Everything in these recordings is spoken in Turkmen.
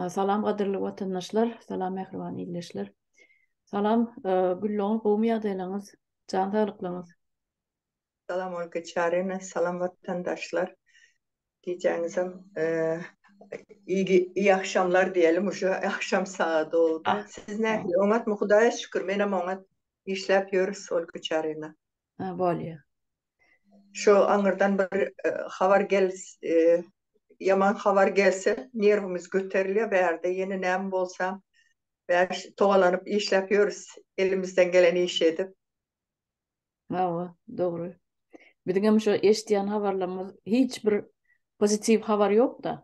Salam gadyrly watandaşlar, salam mähriban ildeşler. Salam, Gülloň, gowmy ýagdaýlaryňyz, jan saglyklaryňyz? Salam Olga Çaryna, salam watandaşlar. Gijäňizem ýyly iyi agşamlar diýelim, uje agşam sagady boldy. Siz nähili, oňatmy? Hudaýa şükür, menem oňat. Işläp ýörüs Olga Çaryna. Ha bolýa. Şo aňyrdan bir habar gel ýaman habar gelse nerwimiz göterilýä bärde ýene näme bolsa bäş togalanyp işläp ýörüs elimizden gelen işi edip. Hawa dogry. Biziňem şo eşdýän habarlarymyz hiç bir pozitiw habar ýokda.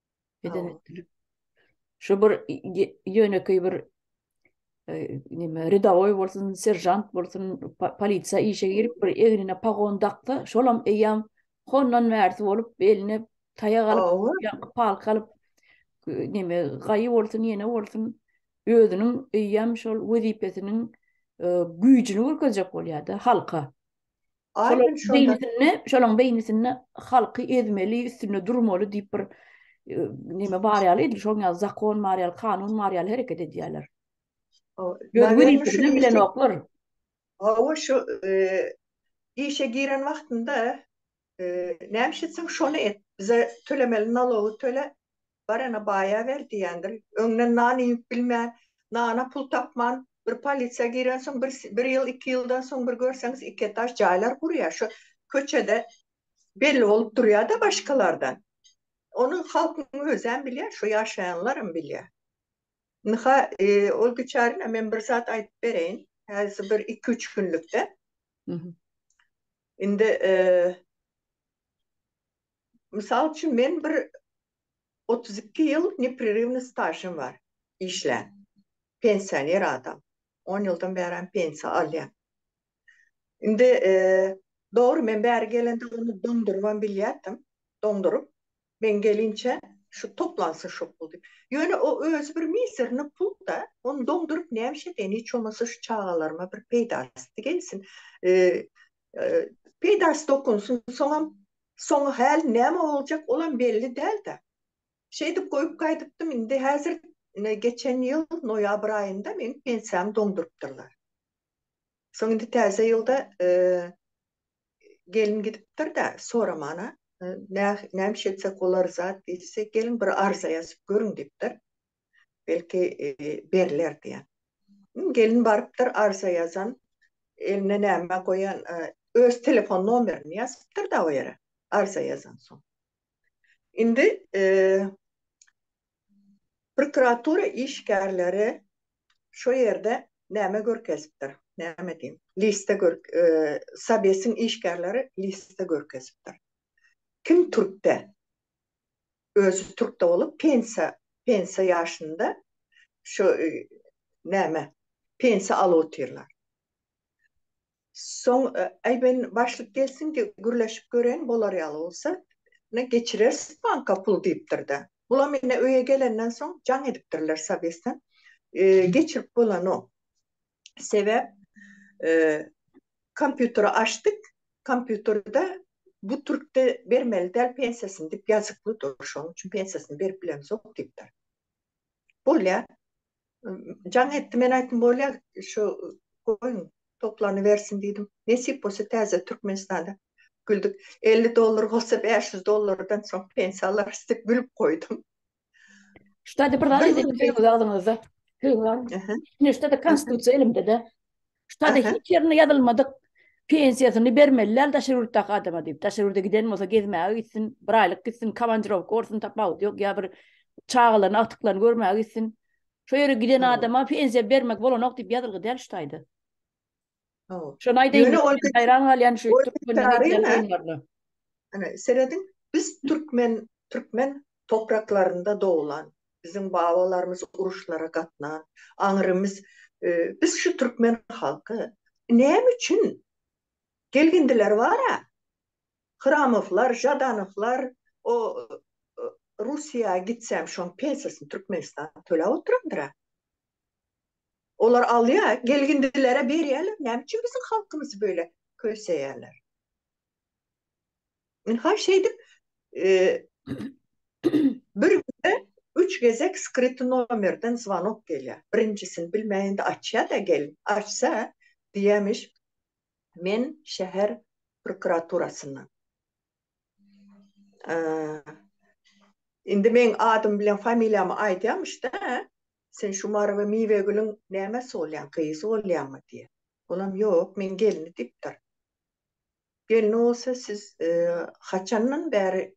Eden etdiler. Şu bir yöneki bir e, nime ridaoy bolsun, serjant bolsun, polisiya işe girip bir egnine pagon dakda, şolam eyyam hondan mersi bolup beline taýak alyp, palk alyp nime gaýy bolsun, ýene bolsun özüniň eýýäm şol wezipesiniň e, güýjüni görkezjek bolýar-da halka. Şolaň beýnisinde, şolaň beýnisinde halky ezmeli, üstünde durmaly diýip bir e, neme bar ýaly edil, şoň ýaly zakon bar ýaly, kanun bar ýaly hereket edýärler. Gözgürilikden bilen oklar. Hawa şu e, işe giren wagtynda e, näme etseň şony et. Bize tölemeli nalogy töle. Barana baýa ber diýendir. Öňden nan iýip bilmän, nana pul tapman, bir polisiýa girensoň, bir bir ýyl, iki ýyldan soň bir görseňiz iki etaž jaýlar gurýar. Şo köçede belli bolup durýar-da başgalardan. Ony halkyň özem bilýär, şo ýaşaýanlaram bilýär. Ynha, ol biçärine men bir zat aýdyp bereýin. Häzir bir iki-üç günlükden. Indi, Mysal üçin, men bir otuz iki ýyl neprerywnyý stažym bar işlän. Pensioner adam. On ýyldan bärem pensiýa alýan. Indi, dogry, men bäri gelende ony doňdurybam bilýärdim. Doňduryp, men gelinçä şu toplansyn şo pul diýip. Ýöne o özi bir mizernyý pul-da. Ony doňduryp näme iş edeýin? Hiç bolmasa şu çagalaryma bir peýdasy gelsin. Peýdasy dokunsun, soňam soňy häli näme boljak, olam belli däl-de. Şeýdip goýup gaýdypdym, indi häzir geçen ýyl noýabr aýynda meniň pensiýamy doňdurypdyrlar. Soň indi täze ýylda gelin gidipdir-de, soraman-a, näme iş etsek bolar zat diýse, geliň bir arza ýazyp görüň diýipdir. belki beriler diýen. Gelin barypdyr arza ýazan, eline näme goýan, öz telefon nomerini ýazypdyr-da o ýere, arza ýazansoň. Indi prokuratura işgärleri şo ýerde näme görkezipdir, näme diýiň, liste Sowesiň işgärleri liste görkezipdir. Kim türkde? özi türkde bolup pensiýa pensiýa ýaşynda şu näme pensiýa alyp otyrlar. Soň äý men başlyk gelsin de gürleşip göreýin bolar ýaly bolsa ine geçireris banka pul diýipdir-de. Bulam ine öýe gelenden soň jaň edipdirler Sabesden. Geçirip bolanok. Sebäp kompýuteri açdyk, kompýuterde bu türkde bermeli däl pensiýasyny diýip ýazykly dur, şonuň üçin pensiýasyny berip bilemzok diýipdir. Bolýar. Jaň etdi, men aýtdym, bolýar, şu goýuň, toplanybersin diýdim. Nesip bolsa täze Türkmenistanda güldük. Elli dollar bolsa bäş ýüz dollardan soň pensiýa alarys diýip gülüp goýdum. Ştada bir zat edip bilmez agzyňyzda. Hüwan. Ne ştada konstitusiýa elimde-de. Ştada hiç ýerinde ýazylmadyk pensiýasyny bermeliler daşary ýurtdaky adama diýip. Daşary ýurda giden bolsa gezmäge gitsin, bir aýlyk gitsin, komandirowka bolsun, tapawut ýok, ýa bir çagalaryny, agtyklaryny görmäge gitsin. Şo ýere giden adama pensiýa bermek bolanok diýip ýazylgy däl ştaýda. Şony aýdaýyn, men haýran galýan şu türkmeniň edýän oýunlaryna. Ine, serediň, biz türkmen, türkmen topraklarynda doglan, biziň babalarymyz uruşlara gatnan, aňrymyz, biz şu türkmen halky näme üçin gelgindiler bar-a, Hramowlar, Žadanowlar, o Russiýa gitsem, şoň pensiýasyny Türkmenistan töläp oturandyr-a. Olar alýa gelgindilere berýäler näme üçin biziň halkymyzy böyle köseýäler. Men ha şeýdip bir günde üç gezek skryty nomerden zwanok gelýä. Birinjisini bilmäýende açýa da gel açsa diýämiş men şäher prokuraturasyndan. Indi men adym bilen familiýamy aýdýamyş da Sen şu Mary we Miwegülüň nämesi bolýaň, gyzy bolýaňmy? diýýär. Olam, Ýok, men gelni diýipdir. Gelni bolsa, siz haçandan bäri,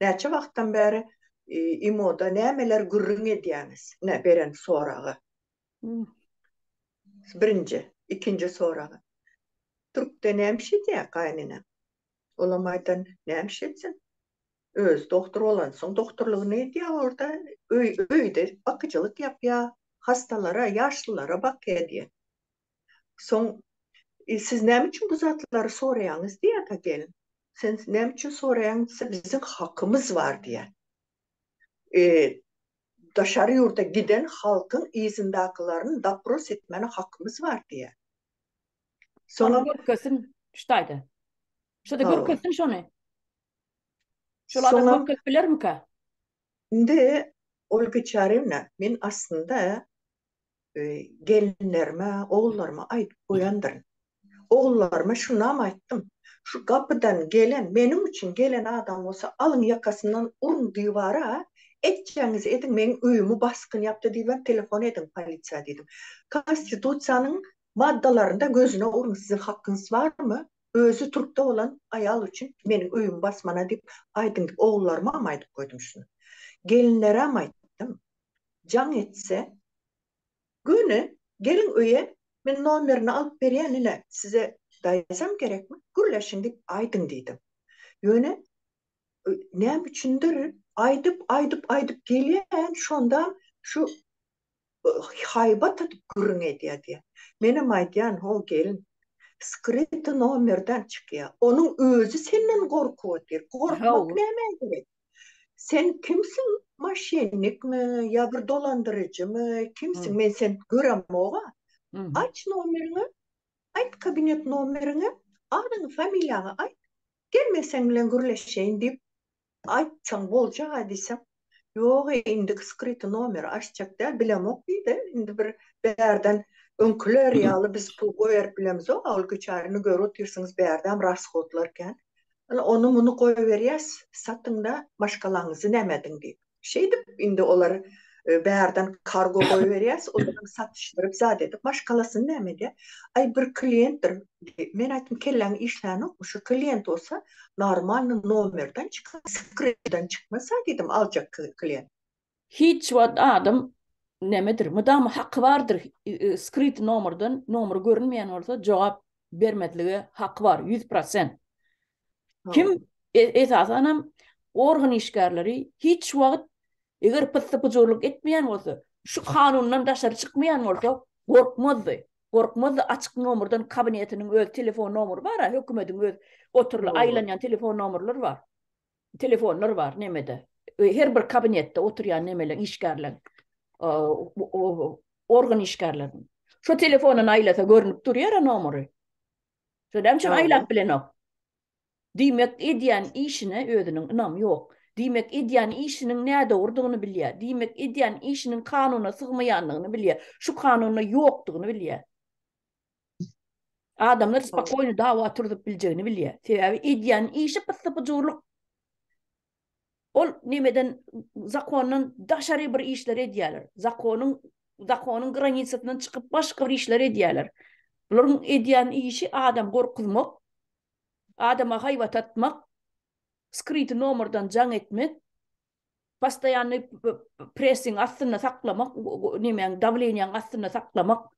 näçe wagtdan bäri imo-da nämeler gürrüň edýäňiz? Ine, beren soragy. Birinji, ikinji soragy. Türkde näme iş edýär gaýyneneň? Olam aýdan, Näme iş etsin? Özi dogtor bolansoň dogtorlygyny edýär orda. Öý öýde bakyjylyk ýapýar. Hastalara, ýaşlylara bakýar diýýär. Soň I siz näme üçin bu zatlary soraýaňyz diýýär da gelin. Sen näme üçin soraýaň diýse biziň hakymyz bar diýýär. I daşary ýurda giden halkyň yzyndakylaryny dopros etmäne hakymyz bar diýýär. Soňam görkezsin şu taýda. Şo-da görkezsin şony. Şol adam Şoňa- köpelip bilermika? Indi, Olga Çaryýewna, men aslynda e, gelinlerime, ogullaryma aýdyp goýandyryn. Ogullaryma şunam aýtdym, Şu gapydan gelen, meniň üçin gelen adam bolsa, alyň ýakasyndan uruň diwara, etjegňizi ediň, meň öýümi basgyn ýapdy diýibem telefon ediň polisiýa diýdim. Konstitusiýanyň maddalarynda gözüne uruň, siziň hakyňyz barmy? Özi turkda bolan aýal üçin meniň öýüm basmana diýip aýdyň diýip ogullarymam aýdyp goýdum şuny. Gelinleräm aýtdym. Jaň etse göni geliň öýe men nomerini alyp berýän ine size daýzam gerekmi gürleşiň diýip aýdyň diýdim. Ýöne näme üçindir aýdyp aýdyp aýdyp gelýän şondam şu haýbat atyp gürrüň edýär diýýär. Menem aýdýan, ho gelin, skryty nomerden çykýa, onuň özi senden gorkup otyr, gorkmak nämä gerek? Sen kimsiň, maşennikmi, ýa bir dolandyryjymy, kimsiň, men seni göremog-a, aç nomeriňi, aýt kabinet nomeriňi, adyňy, familiýaňy aýt, gelmeseň bilen gürleşeýin diýip, Aýtsaň boljaga diýsem, Ýog-ä, indiki skryty nomer açjak däl, bilemok diýdi. Indi bir bärden öňküler ýaly biz pul goýberip bilemizok, a ol güçärini görüp otyrsyňyz, bärdäm rashodlar kän. Ine, ony-muny goýberýäs, satyň-da, maşgalaňyzy näme ediň diýip. Şeýdip, indi olar bärden kargo goýberýäs, olar satyşdyryp zat edip maşgalasyny näme edýär. Aý bir kliýentdir. Men aýtdym, kelläň işlänokmy, şu kliýent bolsa normalny nomerden çykar, skryptdan çykmasa diýdim aljak kliýent. Hiç wagt adam nämedir, mydama haky bardyr, skryty nomerden, nomer görünmeýän bolsa jogap bermezlige haky bar, ýüz prosent. Kim esasan hem organ işgärleri hiç wagt eger pyssy pyjurlyk etmeýän bolsa, şu kanundan daşary çykmaýan bolsa, gorkmazdy. Gorkmazdy açyk nomerden kabinetiniň öz telefon nomeri bar-a, hökümetiň öz oturyly aýlanýan telefon nomerleri bar. Telefonlar bar nemede. Her bir kabinetde oturýan nemeleň işgärleň organ işgärleriniň. Şu telefondan aýlasa görnüp durýar-a nomeri. Şolam üçin aýlap bilenok. Diýmek edýän işine özüniň ynamy ýok. Diýmek edýän işiniň nädogrudygyny bilýär. Diýmek edýän işiniň kanuna sygmaýandygyny bilýär. Şu kanunda ýokdugyny bilýär. Adamlar spokoýno dawa turzup biljegini bilýär. Sebäbi edýän işi pyssy-pyjurlyk. Ol nemeden zakondan daşary bir işler edýäler. Zakonyň zakonyň granisasyndan çykyp başga bir işler edýäler. Bularyň edýän işi adam gorkuzmak, adama haýbat atmak, skryty nomerden jaň etmek, postoýanny pressing astynda saklamak, nemäň dawleniýaň astynda saklamak,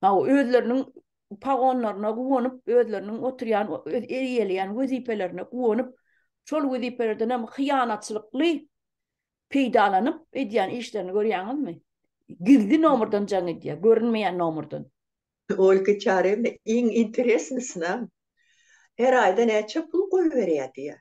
Hawa, özleriniň pagonlaryna guwanyp, özleriniň oturýan, eýeleýän wezipelerine guwanyp, şol wezipelerden hem hyýanatçylykly peýdalanyp edýän işlerini görýäňizmi? Gizli nomerden jaň edýär, görünmeýän nomerden. Olga Çarewna, iň interesnisina, her aýda näçe pul goýberýär diýýär.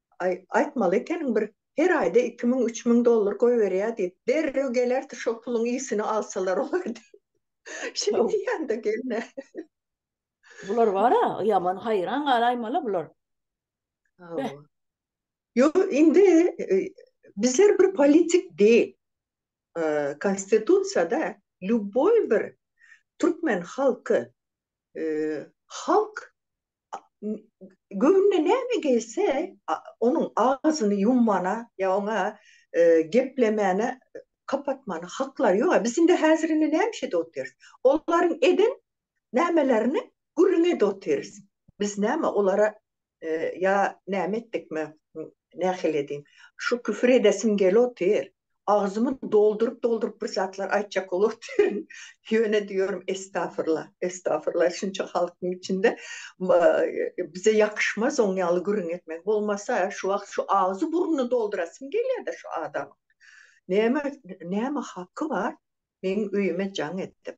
Aý, aýtmaly ekeniň bir her aýda iki müň, üç müň dollar goýberýär diýip. Derrew gelerdi şo puluň ýüsüni alsalar olar diýip. Şeý diýýän-de gelne. Bular bar-a, ýaman haýran galaýmaly bular. Hawa. Ýo, indi bizler bir politik dil. Konstitusiýada lýuboý bir türkmen halky halk göwnüne näme gelse, onuň agzyny ýummana ýa oňa geplemäne, kapatmana haklary ýok-a. Biz indi häzir indi näme işede otyrys? Olaryň eden nämelerini gürrüň edip otyrys. Biz näme, olara Ýa näme etdik men, nähili edin. Şu küfür edesim gelotyr. Agzymy dolduryp-dolduryp bir zatlar aýtjak bolotyryn. Ýöne diýorin estafyrla, estafyrla şunça halkyň içinde bize ýakyşmaz oň ýaly gürrüň etmek. Bolmasa şu wagt şu agzy burnuny doldurasym gelýädä şu adamyň. Näme, näme haky bar meň öýüme jaň edip.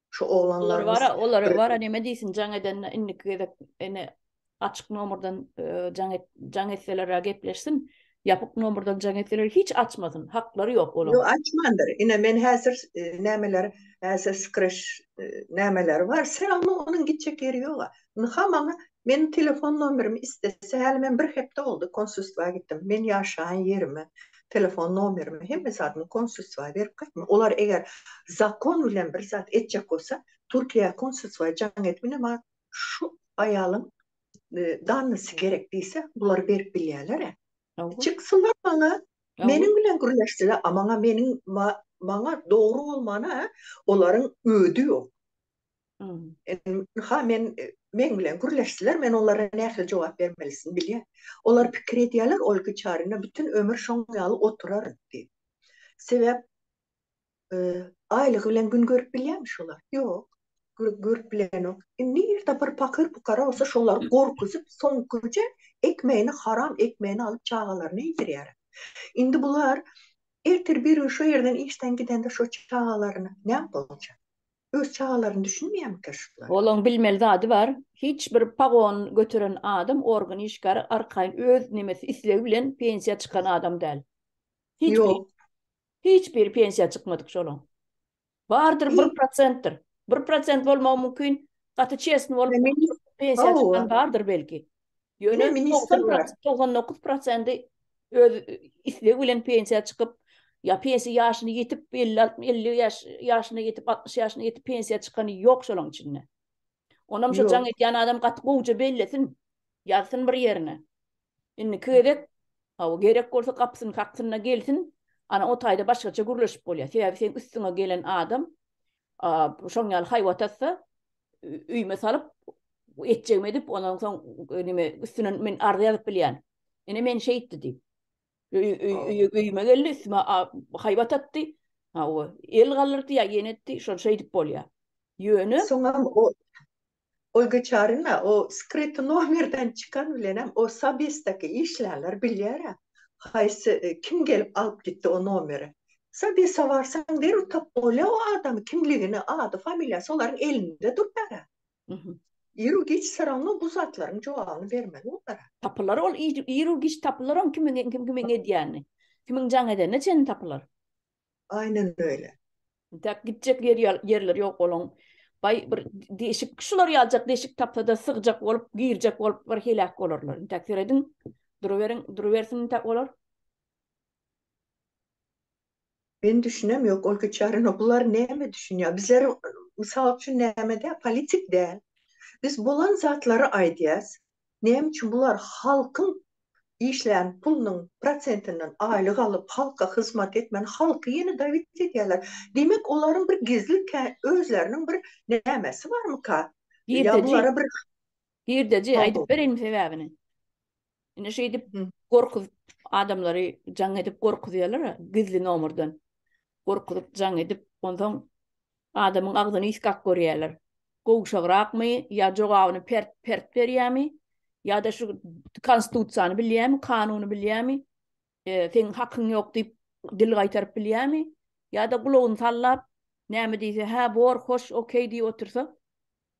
Şu oglanlarymyz. Olar wara, olar wara näme diýsin jaň edende indiki gezek ene açyk nomerden e, jaň et, jaň etseler gepleşsin. Ýapyk nomerden jaň etseler hiç açmasyn. Haklary ýok olar. Ýok açmandyr. Ine men häzir e, nämeler, häzir skriş e, nämeler bar. Selam onuň gitjek ýeri ýok. Ynha maňa meniň telefon nomerimi istese häli men bir hepde boldy konsulstwa gitdim. Men ýaşaýan ýerimi, telefon nomerimi hemme zadymy konsulstwa berip gaýtdym. Olar eger zakon bilen bir zat etjek bolsa Türkiýä konsulstwa jaň et ine maňa şu aýalyň dannysy gerek diýse bular berip bilýäler-ä. Çyksynlar maňa meniň bilen gürleşsinler a maňa meniň maňa dogry bolmana olaryň ödi ýok. Ynha, men, meň bilen gürleşdiler, men olara nähili jogap bermelisin bilýän. Olar pikir edýärler, ol güçaryna bütin ömür şoň ýaly oturar diýip. Sebäp, aýlygy bilen gün görüp bilýärmi şolar? Ýok, görüp bilenok. Nirde bir pakyr-pukara bolsa, şolary gorkuzyp, soňkuja ekmegini, haram ekmegini alyp, çagalaryna iýdirýär. Indi bular ertir bir gün şo ýerden işden gidende şo çagalaryna näme boljak? Öz çagalaryny düşünmeýärmikä şular? Olaň bilmeli zady bar, hiç bir pagon göteren adam organ işgäri arkaýyn öz nemesi islegi bilen pensiýa çykan adam däl. Hiç biri. Ýok. Hiç biri pensiýa çykmadyk şolaň. Bardyr bir prosentdir. Bir prosent bolmagy mümkin, gaty çesni bolup pensiýa çykan bardyr belki. Ýöne ministr bar. 99 prosenti öz islegi bilen pensiýa çykyp, ýa pensiýa ýaşyny ýetip, 50-60 ýaş ýaşyna ýetip, 60 ýaşyna ýetip pensiýa çykany ýok şolaň içinde. Onam şu jaň edýän adam gaty gowja bellesin, ýazsyn bir ýerine. Indiki gezek, hawa, gerek bolsa gapysyny kaksyna gelsin, ana o taýda başgaça gürleşip bolýar. Sebäbi seň üstüňe gelen adam şoň ýaly haýbat atsa, üýme salyp etjegim edip ondan soň nime üstüne men arza ýazyp bilýän. Ene men şeýtdi diýip. Öýüme geldi, üstüme haýbat atdy. Ha o el galdyrdy ýa ýene etdi, şol şeýdip bolýar. Ýöne soňam o Olga Çarina o skryt nomerden çykan bilenem o sabistaki işlänler bilýär-ä. Haýsy kim gelip alyp gitdi o nomeri. Şo bir sowarsaň bir utap bolýa o adamy kimligini ady familiýasy olaryň elinde dur bärä. Iru giç soraňa bu zatlaryň jogabyny bermeli olara. Tapylar ol iru giç tapylar oň kimiň kim kimiň edýäni. Kimiň jaň edenine çenli tapylar. Aýnen öýle. Intäk gitjek ýer ýerleri ýok olaň. Baý bir deşik şular ýaljak deşik tapsada sygjak bolup girjek bolup bir heläk bolarlar. Intäk serediň duruberiň durubersin intäk olar. Men düşünem yok ol biçarana bular näme düşünýär bizler mysal üçin nämede politik däl biz bolan zatlary aýdýas näme üçin bular halkyň işlän pulunyň prosentinden aýlyk alyp halka hyzmat etmän halky ýene dawit edýärler diýmek olaryň bir gizli özleriniň bir nämesi barmyka ýa bulara bir girdeji aýdyp bereýinmi sebäbini Indi şeýdip gorkuz adamlary jaň edip gorkuzýarlar gizli nomerden. Gorkuzyp jaň edip, ondan adamyň agzyny iskak görýärler. Gowşagrakmy ýa jogabyny pert pert berýärmi? Ýa-da şu konstitusiýany bilýärmi, kanuny bilýärmi? E, seň hakyň ýok diýip dil gaýtaryp bilýärmi? Ýa-da gulagyny sallap, näme diýse, hä, bor, hoş, okey diýip otursa,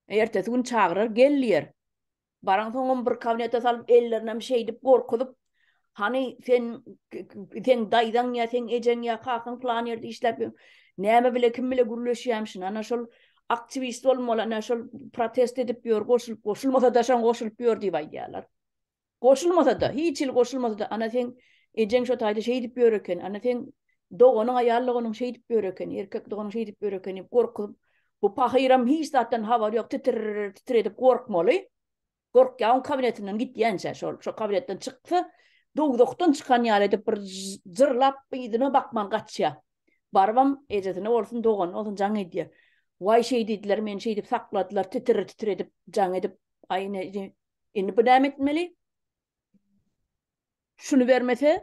ertesi gün çagyrar, gel diýer. Baran soňam bir kabinete salyp, ellerinem şeýdip gorkuzyp, Hany sen sen daýzaň ýa sen ejeň ýa kakaň plan ýerde işläp ýör. Näme bile kim bile gürleşýämişin. Ana şol aktiwist bolmaly, ana şol protest edip ýör, goşulyp goşulmasa da şoň goşulyp ýör diýip aýdýarlar. Goşulmasa da, hiç hili goşulmasa da, ana sen ejeň şo taýda şeýdip ýör eken, ana sen doganyň aýallygynyň şeýdip ýör eken, erkek doganyň şeýdip ýör eken diýip gorkuzyp, Bu pahyram hiç zatdan habary ýok, titir-titir edip gorkmaly. Gorkýagyň kabinetinden gitýänçä, şol, şo kabinetden çyksa, dowzahdan çykan ýaly edip bir jyrlap, yzyna bakman gaçýa. Barybam, ejesine bolsun, doganyna bolsun jaň edýä. Waý, şeý diýdiler, meni şeýdip sakladylar, titir-titir edip, jaň edip, aý, ine, ine, indi bu näme etmeli? Şuny bermese,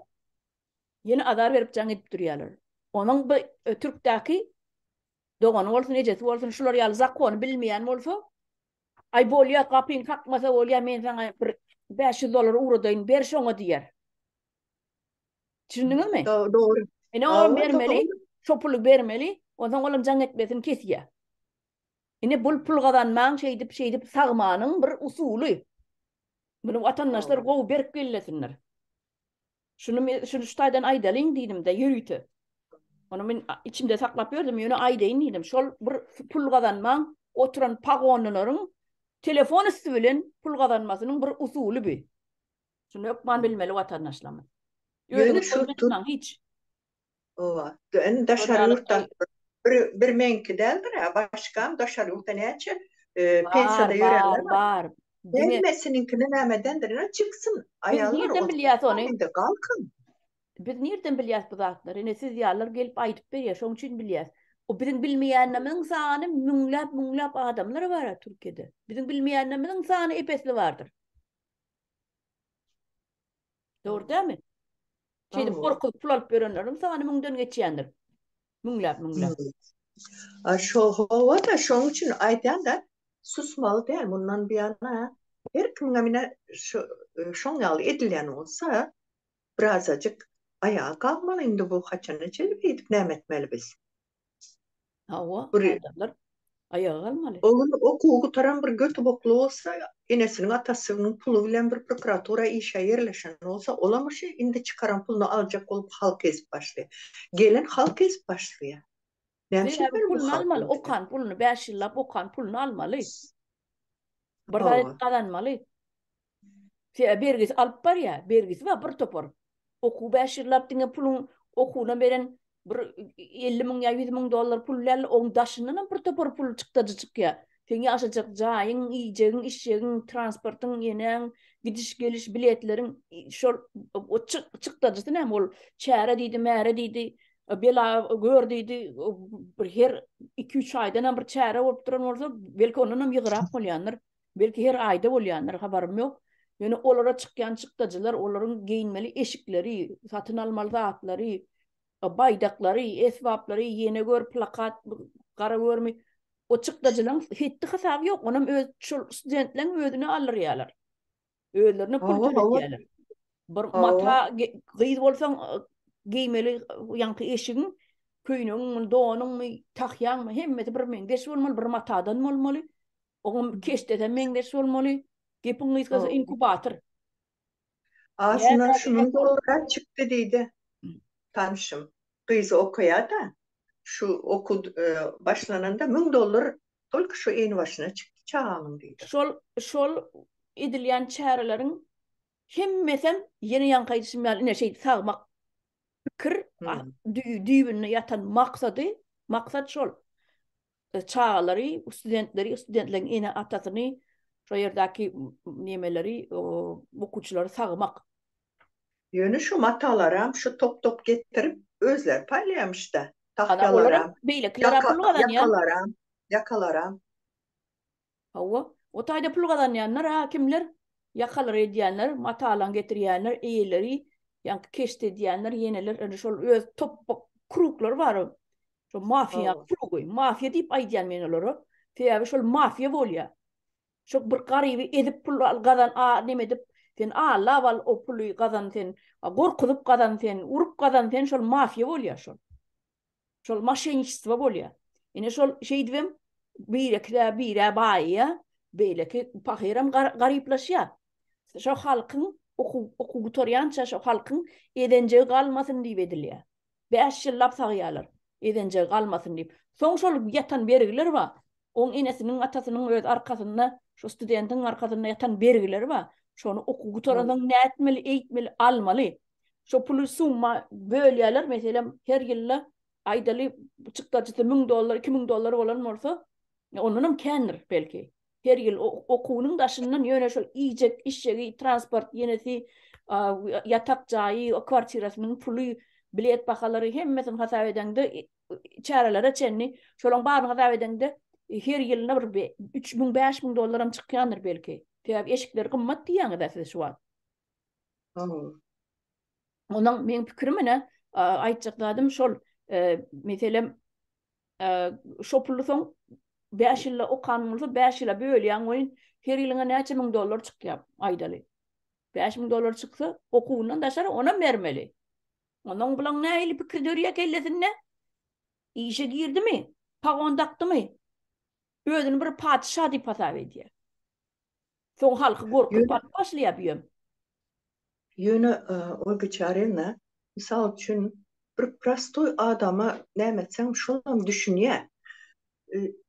ýene azar berip jaň edip durýarlar. Onuň bu ötürkdäki Dogany bolsun, ejesi bolsun şular ýaly zakony bilmeýän bolsa, Aý, bolýar, gapyňy kakmasa bolýar, men saňa bir bäş ýüz dollar ugradaýyn, ber şoňa diýer. Düşündiňizmi? Dogry. Ine, olam bermeli, şo puly bermeli, onsoň olam jaň etmesini kesýär. Ine, bul pul gazanmagyň şeýdip, şeýdip sagmanyň bir usuly. Muny watandaşlar gowy berk bellesinler. Şuny men şuny şu taýdan aýdalyň diýdim-de, ýörite. Ony men içimde saklap ýördüm, ýöne aýdaýyn diýdim. Şol bir pul gazanmaň, oturan pagonlylaryň telefon üsti bilen pul gazanmasynyň bir usuly bi. Şuny hökman bilmeli watandaşlarymyz. Ýöne şo tut. Hiç. Owa. Indi daşary ýurtdan bir bir meňki däldir, başgam daşary ýurtda näçe pensiýada ýörenler bar. Hemmesiniňkini nämedendir, ýa çyksyn. Aýallar nirden bilýäs ony? Galkyn. Biz nirden bilýäs bu zatlary? Ine siz ýalylar gelip aýdyp berýär, şonuň üçin bilýäs. O biziň bilmeýänimiziň sany müňläp-müňläp adamlar bar a Türkiýede. Biziň bilmeýänimiziň sany ep-esli bardyr. Dogry dämi? Şeýle gorkup pul alyp ýörenleriň sany müňden geçýändir. Müňläp, müňläp. A şo howa-da, şoň üçin aýdýan-da, susmaly däl, mundan buýana her kimiňem ine şu şoň ýaly edilýän bolsa, birazajyk aýaga galmaly, indi bu haçana çenli beýdip näme etmeli biz? Hawa, adamlar aýaga galmaly. Ogul okuwy gutaran bir götübokly bolsa, enesiniň, atasynyň puly bilen bir prokuratura işe ýerleşen bolsa, olam şi indi çykaran pulyny aljak bolup halk ezip başlaýar. Gelin halk ezip başlaýar. Näme üçin meniň bu halkym diýip. Okan pulyny, bäş ýyllap okan pulyny almaly. Bir zat edip gazanmaly. Fe bergisi alyp barýa, bergisi bar bir topar. Okuw bäş ýyllap diňe puluň okuwyna beren bir 50 müň ýa 100 müň dollar pul däl, oň daşyndan hem bir topar pul çykdajy çykýa. Seň ýaşajak jaýyň, iýjegiň, içjegiň, transportyň, enäň, gidiş, geliş, biletleriň şol çykdajysy näme ol çäre diýdi, märe diýdi, bela gör diýdi, bir her iki-üç aýdan hem bir çäre bolup duran bolsa, belki ondan hem ýygyrak bolýandyr. Belki her aýda bolýandyr, habarym ýok. Ýöne olara çykýan çykdajylar, olaryň geýinmeli eşikleri, satyn almaly zatlary, baýdaklary, esbaplary, ýene gör plakat, gara görmi, o çykdajylaryň hetdi-hasaby ýok. Onam öz şol studentleň özüne aldyrýarlar. Özlerine pul töletýärler. Bir mata gyz bolsaň geýmeli ýaňky eşigiň köýnegiňmi, donuňmy, tahýaňmy hemmesi bir meňzeş bolmaly, bir matadan bolmaly. Oňam keşdeden meňzeş bolmaly. Gepiň gysgasy inkubator. Aslynda şunuň dograp çykdy diýdi. Tanşym gyz okaýar-da. Şu okuw başlananda 1000 dollar Tolki şu in başyna çykdy çagaňyň diýdi. Şol şol edilýän çäreleriň hemmesem ýene ýaňky aýdyşym ýaly ine şeýdi sagmak pikir düýbünde ýatan maksady maksat şol çagalary studentleri studentleriň ene atasyny şo ýerdäki nemeleri okuwçylary sagmak Ýöne şu matalaram şu top-top getirip, özleri paýlaýamyş-da. Ana, olaram, beýlekilerem pul gazanýar. Ýakalaram, ýakalaram. Hawa, o taýda pul gazanýanlar-a kimler? Ýakalary edýänler, matalaň getirýänler, eýeleri, ýaňky keşt edýänler, ýeneler, indi şol öz top-pop kruglary bar. Şo mafiýaň krugy. Mafiýa diýip aýdýan men olara. Sebäbi şol mafiýa bolýar. Şu bir garyby ezip pul al gazan a neme edip sen allap al o puly gazan sen gorkuzyp gazan sen urup gazan sen şol mafiýa bolýa şol şol maşenistwo bolýa ine şol şeýdibem birekilä birä baýýa beýleki pahyram garyplaşýa şo halkyň okuw okuw gutarýança şo halkyň ezenjegi galmasyn diýip edilýä Bäş ýyllap sagýarlar, ezenjegi galmasyn diýip. Soň şol ýatan bergiler bar, oň enesiniň, atasynyň öz arkasynda, şo studentiň arkasynda ýatan bergileri bar. Şony okuw gutaransoň nätmeli, eýtmeli, almaly. Şo puly summa bölýärler, meselem, her ýylda, aýdaly, çykdajysy müň dollar, iki müň dollar bolan bolsa, ondanam kändir, belki. her ýyl okuwynyň daşyndan ýöne şol iýjek, içjegi, transport, ýenesi ýatak jaýy, kwartirasynyň puly, bilet bahalary hemmesini hasap edeňde çärelere çenli şolaryň baryny hasap edeňde her ýylyna bir üç müň, bäş müň dollaram çykýandyr belki. Sebäbi eşikleri gymmat diýýäňiz-ä siz şu wagt. Onuň meň pikirim ine aýtjak zadym şol. Meselem şo puly soň 5 ýylda okan bolsa 5 ýyla bölýäň we her ýylyňa näçe müň dollar çykýar aýdaly. 5 müň dollar çyksa okuwyndan daşary onam bermeli. Onuň bilen nähili pikir dörýär kellesinde? Işe girdimi? Pagon dakdymy? Özüni bir patyşa diýip hasap edýär. Soň halky gorkup baryp başlaýar bu ýöne. Ýöne Olga Çarewna, mysal üçin, bir prostoý adama näme etseňem şolam düşünýär.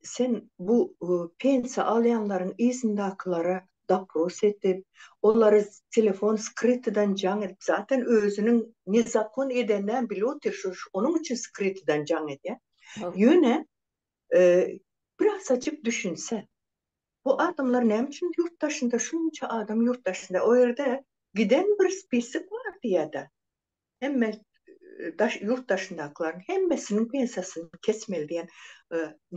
Sen bu pensiýa alýanlaryň yzyndakylara dopros edip, olary telefon skrytydan jaň edip, zaten özüniň nezakon edenäm bilip otyr, şonuň üçin skrytydan jaň edýär. Ýöne, birazajyk düşünse, Bu adamlar näme üçin ýurt daşynda şunça adam ýurt daşynda o ýerde giden bir spisok bar diýädä hemme daş ýurt daşyndakylaryň hemmesiniň pensiýasyny kesmeli diýen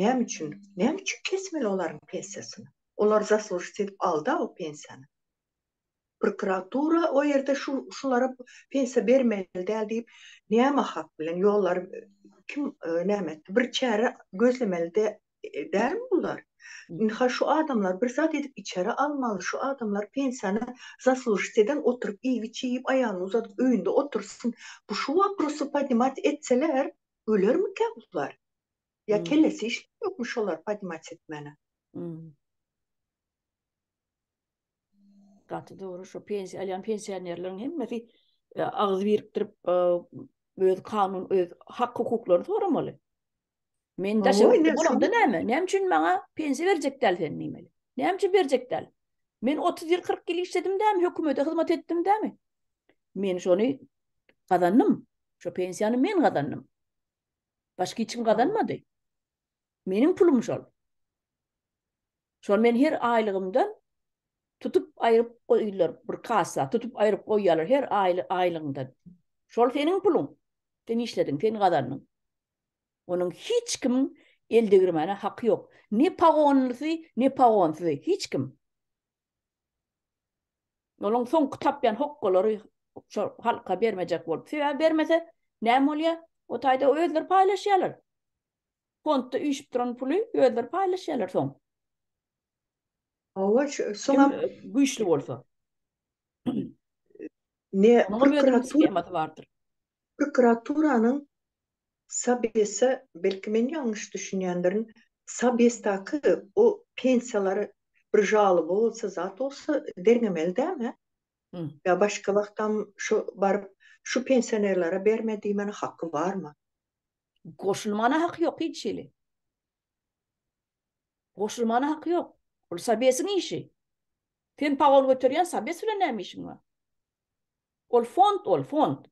näme üçin näme üçin kesmeli olaryň pensiýasyny olar zaslužit edip alda o pensiýany Prokuratura o ýerde şu şulara pensiýa bermeli däl diýip näme hak bilen ýollary kim näme etdi bir çäre gözlemeli de dälmi bular? Ynha şu adamlar bir zat edip içeri almaly şu adamlar pensiýany zaslužit eden oturyp iýip içip aýagyny uzadyp öýünde otursyn bu şu waprosy podnimat etseler ölermika bular? Ýa kellesi işleýokmy şolary podnimat etmäne? Gaty dogry şu pensiýa alýan pensionerleriň hemmesi e, agyz birikdirip e, öz kanun öz hak hukuklaryny soramaly. Men daşa bolanda näme? Näme üçin maňa pensiýa berjek däl sen diýmeli? Näme üçin berjek däl? Men 30 ýyl 40 ýyl işledim dämi? Hökümete hyzmat etdim dämi? Men şony gazandym. Şu pensiýany men gazandym. Başga hiç kim gazanmady. Meniň pulum şol. Şony men her aýlygymdan tutup aýryp goýlar, bir kassa tutup aýryp goýýarlar her aýlygyňdan. Şol seniň puluň. Sen işlediň, sen gazandyň. Onuň hiç kimiň el degirmäne haky ýok. Ne pagonlysy, ne pagonsyzy, hiç kim. Onuň soňky tapýan hokgalary şo halka bermejek bolup. Sebäbi bermese näme bolýar? O taýda özleri paýlaşýarlar. Fondda üýşüp duran puly özleri paýlaşýarlar soň. Hawa, şu soňam Kim güýçli bolsa. Ne prokuratura bardyr. Prokuraturanyň Sabesa, belki men ýalňyş düşünýändirin, Sabesdaky o pensiýalary bir žalyby bolsa, zat bolsa derňemeli dälmi? Ýa başga wagtam şu baryp, şu pensionerlere berme diýmäne haky barmy? Goşulmana haky ýok hiç hili. Goşulmana haky ýok. Ol Sabesiň işi. Sen pagol göterýän Sabes bilen näme işiň bar? Ol fond, ol fond.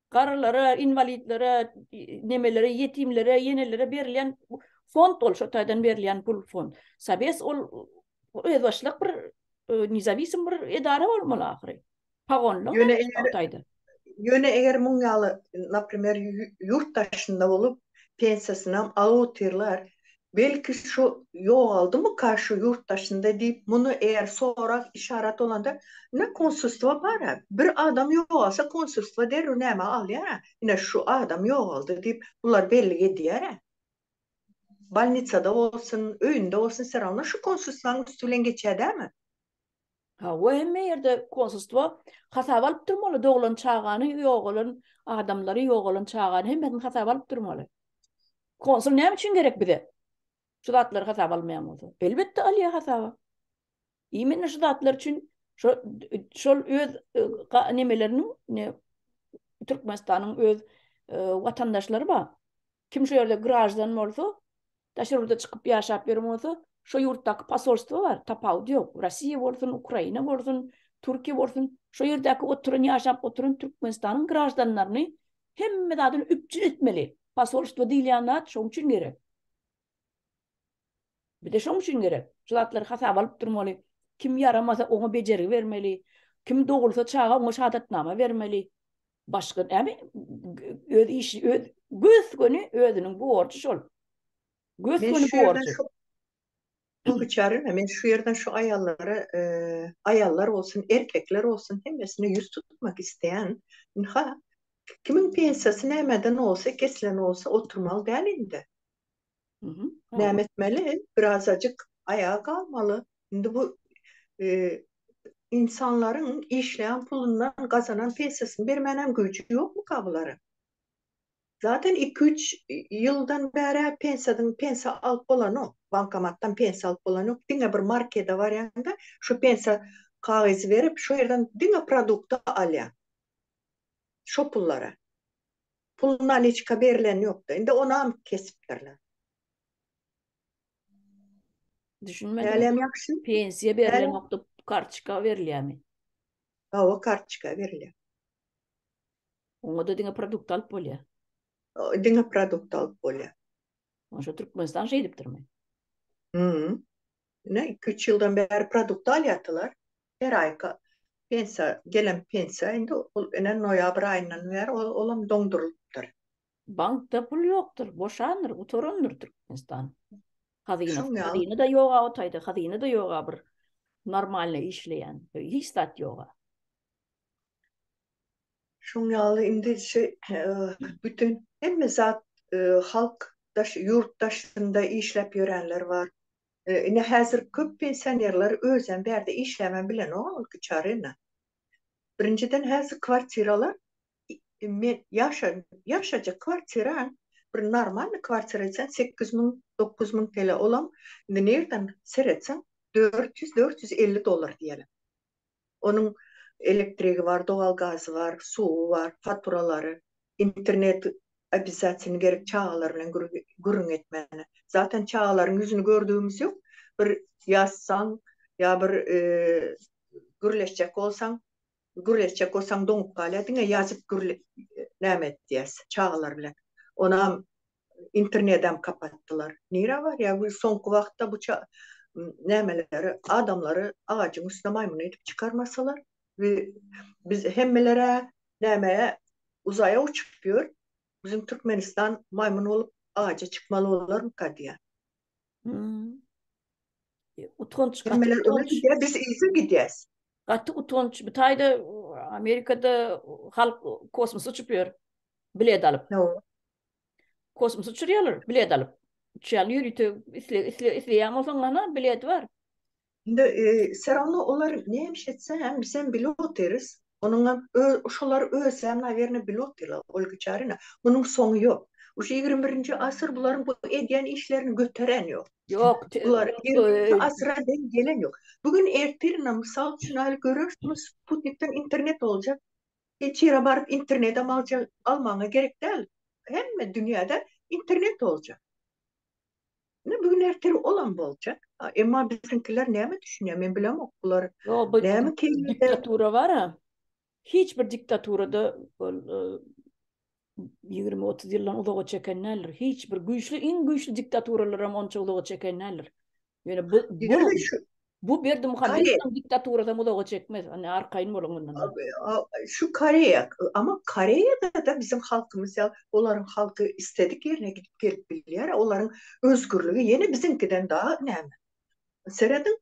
Garrylara, inwalidlere, nemelere, ýetimlere, ýenelere berilýän fond ol, şo taýdan berilýän pul fond. Sabes ol özbaşdak bir e, nezawisim bir edara bolmaly ahyry. Pagonlyk Ýöne näme eger- ýagdaýda? Ýöne eger muň ýaly, naprimer, ýu- ýurt daşynda bolup, pensiýasynam alyp otyrlar, belki şu ýogaldymyka şu ýurt daşynda diýip, muny eger sorag, işarat bolanda, ine, konsulstwo bar-a, bir adam ýogalsa, konsulstwo derrew näme alýar-a, ine, şu adam ýogaldy diýip, bular bellik edýär-ä. Bolnitsada bolsun, öýünde bolsun, wsýerawno şu konsulstwaň üsti bilen geçýär dälmi? Hawa hemme ýerde konsulstwo hasaba alyp durmaly doglan çagany ýogalan adamlary ýogalan çagany hemmesini hasaba alyp durmaly. Konsul näme üçin gerek bize? Şu zatlary hasaba almaýan bolsa. Elbetde alýar hasaba. Imenna şu zatlar üçin şo şol öz nemeleriniň ne Türkmenistanyň öz watandaşlary bar. Kim şu ýerde graždan bolsa, daşary ýurda çykyp ýaşap ýören bolsa, şo ýurtdaky posolstwo bar, tapawudy ýok. Russiýa bolsun, Ukraina bolsun, Türkiýe bolsun, şo ýerdäki oturan, ýaşap oturan Türkmenistanyň graždanlaryny hemme zadyny üpjün etmeli. Posolstwo diýilýän zat şoň üçin gerek. Bize şoň üçin gerek. Şu zatlary hasaba alyp durmaly. Kim ýaramasa, oňa bejergi bermeli. Kim dogulsa çaga, oňa şahadatnama bermeli. Başga näme öz işi öz göz göni özüniň borjy şol. Göz göni borjy. Bu biçare men şu ýerden şu aýallara e, aýallar bolsun, erkekler bolsun hemmesine ýüz tutmak isteýän. Ha, kimin pensiýasy nämeden bolsa, kesilen bolsa oturmaly däl indi. Näme etmeli? Birazajyk aýaga galmaly. Indi bu insanlaryň işleýän pulundan gazanan pensiýasyny bermänem güýji ýokmyka bularyň? Zaten iki-üç ýyldan bäri pensiýadan pensiýa alyp bolanok, bankomatdan pensiýa alyp bolanok. Diňe bir markede barýanda şu pensiýa kagyzy berip, şo ýerden diňe produkty alýar. Şo pullara. Pul naliçka berilen ýokda indi ony anyk kesipdirler. Düşünmedim. Hälem ýagşy. Pensiýa berilen ýokda kartoçka berilýämi? Hawa kartoçka berilýär. Oňada diňe produkt alyp bolýar. Diňe produkt alyp bolýar. Onşa Türkmenistan şeýdipdirmi? Hü. Ine, iki-üç ýyldan bäri produkt alýardylar. Her aýka pensiýa, gelen pensiýa indi ol ene noýabr aýyndan bäri olam doňdurylypdyr. Bankda pul ýokdur, boşandyr, gutarandyr Türkmenistan hazynasy. Hazyna-da ýog-a o taýda, hazyna-da ýog-a bir normalny işleýän, hiç zat ýog-a. Şuň ýaly indi şu bütin hemme zat halk daş ýurt daşynda işläp ýörenler bar. Ine häzir köp pensionerler özem bärde işläbem bilenok ilki çary indi. Birinjiden häzir kwartiralar men ýaşan ýaşajak kwartira bir normalny kwartira etseň sekiz müň dokuz müň TL olam indi nirden seretseň dört ýüz dört ýüz elli dollar diýeli. Onuň elektrigi bar, dowal gazy bar, suwy bar, faturalary, internet obisasiýasyny gerek çagalar bilen gürrüň etmäne. Zaten çagalaryň ýüzüni gördügimiz ýok. Bir ýazsaň ýa bir gürleşjek bolsaň, gürleşjek bolsaň doňup galýar. Diňe ýazyp näme edýäs çagalar bilen. Onam internedem kapatdylar. Nirä barýar bu soňky wagtda bu nämeleri adamlary agajyň üstüne maýmyn edip çykarmasalar we biz hemmelere nämäe uzaýa uçup ýör biziň Türkmenistan maýmyn bolup agaja çykmaly bolarmyka diýýän. Utanç hemmeler öňe gidýär biz yza gidýäs. Gaty utanç bu taýda Amerikada halk kosmos uçup ýör bilet alyp. Kosmos uçurýarlar, bilet alyp. Uçýarlar ýörite isle isle isleýän bolsaň mana bilet bar. Indi e, serowno olar nämiş etse hem biz hem pilot deris. Onuň hem öz şolar öz hem nawerno pilot diýler ol güçärine. Munuň soňy ýok. Uş 21-nji asyr bularyň bu edýän işlerini göteren ýok. Ýok, te- Bular e, 20-nji asyra deň gelen ýok. Bugün ertirine mysal üçin alyp görersiňiz, Sputnikden internet boljak. Hiç ýere baryp internete mace almagyňa gerek däl. Hemme dünýäde internet boljak. Ine bu gün ertir olam boljak. Emma biziňkiler näme düşünýär men bilemok bular näme keýpde. Diktatura bara hiç bir diktaturada ýigrimi, otuz ýyldan uzaga çeken däldir. Hiç bir güýçli, iň güýçli diktaturalar hem onça uzaga çeken däldir. Ýöne bu bu bu Berdi Muhammedowyň diktaturasy hem uzaga çekmez. Ony arkaýyn boluň mundan. Şu Koreýa, amma Koreýada-da biziň halkymyz ýa olaryň halky istedik ýerine gidip gelip bilýär, olaryň özgürligi ýene biziňkiden dagy näme. Serediň,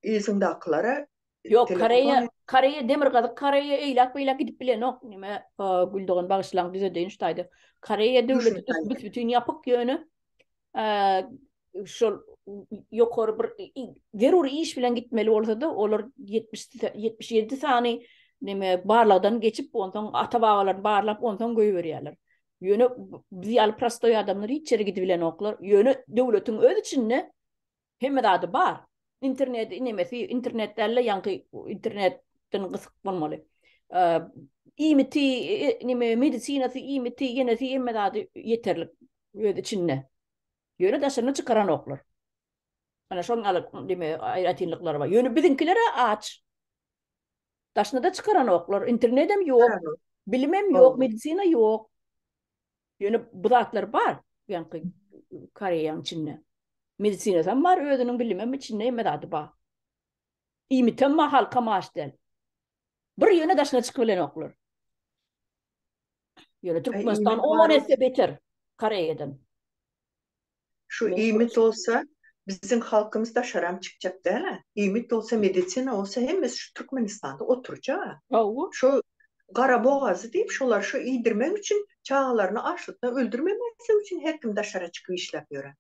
yzyňdakylara Ýok, Koreýa, Koreýa Demirgazyk Koreýa eýläk-beýläk gidip bilenok. Näme, Güldogan bagyşlaň düzedeýin şu taýda. Koreýa döwleti büs-bütin ýapyk ýöne şol ýokary bir zerur iş bilen gitmeli bolsa-da, olar ýetmiş, ýetmiş ýedi sany näme barlagdan geçip, onsoň ata-babalaryny barlap, onsoň goýberýärler. Ýöne biz ýaly prostoý adamlar hiç ýere gidip bilenoklar. Ýöne döwletiň öz içinde Hemme zady bar. Interneti inemesi, internet däl-de, ýaňky internetden gysyk bolmaly. Iýmiti, neme, medisinasy, iýmiti, ýenesi hemme zady ýeterlik öz içinde. Ýöne daşaryna çykaranoklar. Ana şoň alyp, neme, aýratynlyklary bar. Ýöne biziňkiler-ä aç. Daşyna-da çykaranoklar. Internedem ýok. Bilimem ýok, medisina ýok. Ýöne bu zatlar bar, ýaňky Koreýaň içinde. Medisinasam bar, özüniň bilimem içinde hemme zady bar. Iýmitem bar, halkam aç däl. Bir ýöne daşyna çykyp bilenoklar. Ýöne Türkmenistan on esse beter Koreýadan. Şu iýmit bolsa biziň halkymyz daşaram çykjak däl-ä. Iýmit bolsa, medisina bolsa hemmesi şu Türkmenistanda oturjag-a. Hawa. Şu Garabogazy diýip şolary şu iýdirmek üçin çagalaryny açlykdan öldürmemezlik üçin her kim daşara çykyp işläp ýöre.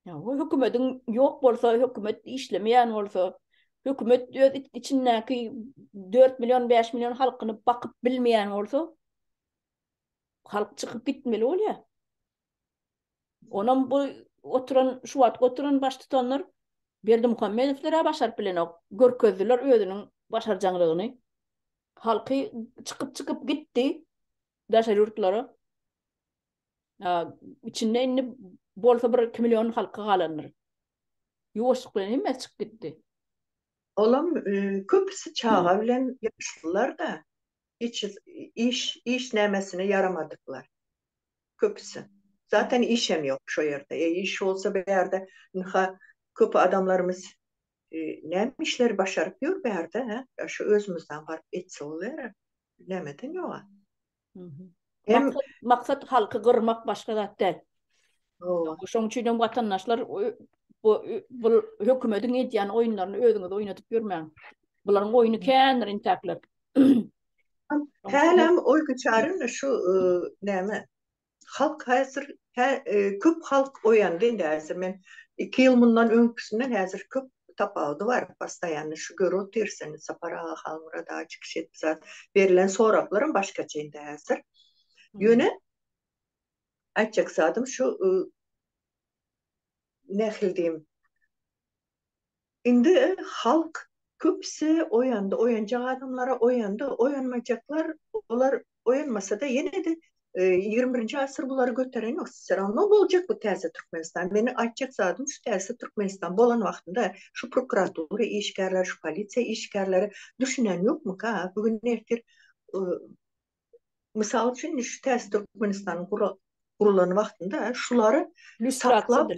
Hawa, hökümediň ýok bolsa, hökümet işlemeýän bolsa, hökümet öz içindäki dört million, bäş million halkyny bakyp bilmeýän bolsa, halk çykyp gitmeli bolýa. Onam bu oturan, şu wagt oturan baştutanlar Berdimuhamedowlar-a başaryp bilenok. Görkezdiler özüniň başarjaňlygyny. Halky çykyp-çykyp gitdi daşary ýurtlara. A, içinde indi bolsa bir iki million halky galandyr. Ýuwaşlyk bilen hemmesi çykyp gitdi. Olam köpüsi çaga bilen ýaşlylar-da. Hiç iş, iş nämesine ýaramadyklar. köpüsi. Zaten işem ýok şo ýerde. E iş bolsa bu ýerde ynha köp adamlarymyz näme işleri başaryp ýör bu ýerde hä? Ýa şu özümizden baryp etse bolýara. Nämeden ýoga? Hem maksat halky gyrmak başga zat däl. Hawa. Şoň üçin hem watandaşlar bu bu hökümediň edýän oýunlaryny özüňiz oýnadyp ýörmäň. Bularyň oýny kändir intäkler. Hälem oý güçärin şu näme? Halk häzir köp halk oýandy indi häzir men iki ýyl mundan öňküsinden häzir köp tapawudy bar postoýanny şu gör otyrsyn Sapar aga Halmyrat aga çykyş etdi zat berlen soraklaram başgaça indi häzir ýöne aýtjak zadym şu nähili diýim Indi halk köpüsi oýandy, oýanjak adamlara oýandy, oýanmajaklar olar oýanmasada ýene-de ýigrimi birinji asyr bulary göteren ýok, se rawno boljak bu täze Türkmenistan, meniň aýtjak zadym şu täze Türkmenistan bolan wagtynda şu prokuratura işgärleri, şu polisiýa işgärleri düşünen ýokmyka, bu gün ertir mysal üçin indi şu täze Türkmenistanyň gurulan wagtynda şulary saklap.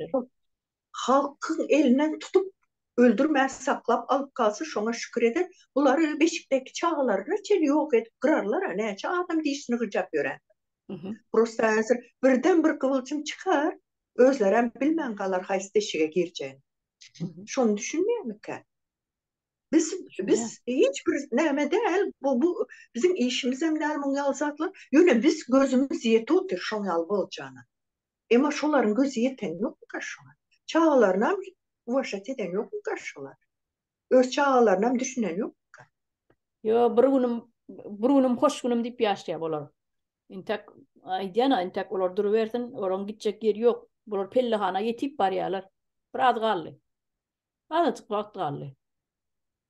Halkyň elinden tutup öldürmän saklap alyp galsa şoňa şükür eder, bulary beşikdäki çagalaryna çenli ýok edip gyrarlar-a näçe adam dişini gyjap ýörendir. Prosta häzir birden bir gywyljym çykar, özlerem bilmän galar haýsy deşige girjegini. Şony düşünmeýärmikä? Biz biz hiç bir näme däl, bu bu biziň işimizem däl muň ýaly zatlar, ýöne biz gözümiz ýetip otyr şoň ýaly boljana. Emma şolaryň gözi ýeten ýokmy garşyňa? Çagalarynam uwaşat eden ýokmy garşyňa? Öz çagalarynam düşünen ýokmyka? Ýo, bir günüm, bir günüm hoş günüm diýip ýaşaýar olar. Entek aýdýan-a, entek olar durubersin, olaryň gitjek ýeri ýok. Bular pellehana ýetip barýarlar. Biraz galdy. Azajyk wagt galdy.